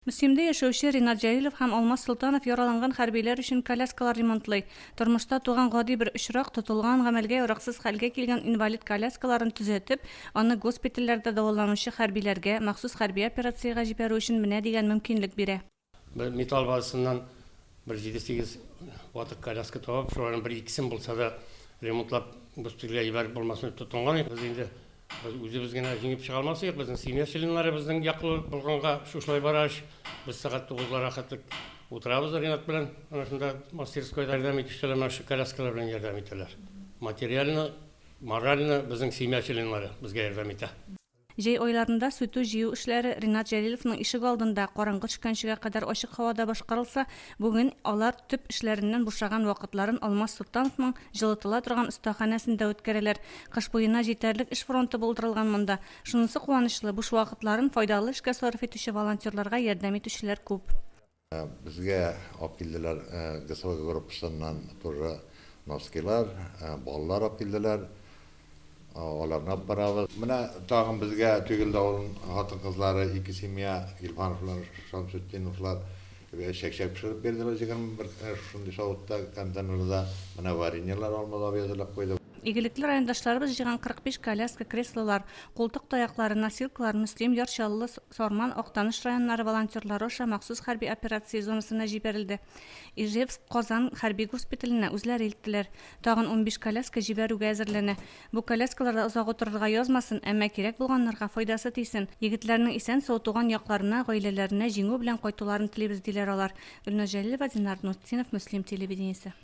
Мөслимдә яшәүче Ринат Җәлилов һәм Алмаз Солтанов яраланган хәрбиләр өчен коляскалар ремонтлый. Тормышта туган гади бер очрак, тотылган гамәлгә яраксыз хәлгә килгән инвалид коляскаларын төзәтеп, аны госпитальләрдә дәваланучы хәрбиләргә, махсус хәрби операциягә җибәрү өчен менә дигән мөмкинлек бирә. Бер металл базасыннан бер җиде-сигез ватык коляска табып, шуларның бер-икесен булса да ремонтлап госпитальгә җибәреп булмасын дип тотынган идек без инде. Без үзебез генә җиңеп чыга алмас идек, безнең семья членнары безнең яклы булганга шушылай бара эш. Без сәгать тугызлар рәхәтлек утырабыз Ринат белән, ана шунда мастерскойда ярдәм итүчеләр менә шушы коляскалар белән ярдәм итәләр. Материально, морально безнең семья членнары безгә ярдәм итә. Җәй айларында сүтү-җыю эшләре Ринат Җәлиловның ишегалдында караңгы төшкәнчегә кадәр ачык һавада башкарылса, бүген алар төп эшләреннән бушаган вакытларын Алмаз Солтановның җылытыла торган остаханәсендә үткәрәләр. Кыш буена җитәрлек эш фронты булдырылган монда. Шунысы куанычлы, буш вакытларын файдалы эшкә сарыф итүче волонтерларга ярдәм итүчеләр күп. Безгә алып килделәр ГСВ группасыннан тоже носкилар, баллар алып килделәр. Аларны алып барабыз. Менә тагын безгә Төгел давылын хатын-кызлары, ике семья, Гилфановлар, Шамсетдиновлар, Бер чәк-чәк пешереп бирделәр, җиген бер кенә шушындый савытта, контейнерда. Менә вареньелар, алмалар әзерләп куйды. Игелекле райондашларыбыз җыйган 45 коляска, креслолар, култык таяклары, носилкалар Мөслим, Яр Чаллы, Сарман, Актаныш районнары волонтерлары аша махсус хәрби операция зонасына җибәрелде. Ижевск, Казан хәрби госпиталенә үзләре илттеләр. Тагын унбиш коляска җибәрүгә әзерләнә. Бу коляскаларда озак утырырга язмасын, әмма кирәк булганнарга файдасы тисен. Егетләрнең исән-сау туган якларына, гаиләләренә җиңү белән кайтуларын телибез, диләр алар. Гөлназ Җәлилова, Динар Нуртдинов, Мөслим телевидениесе.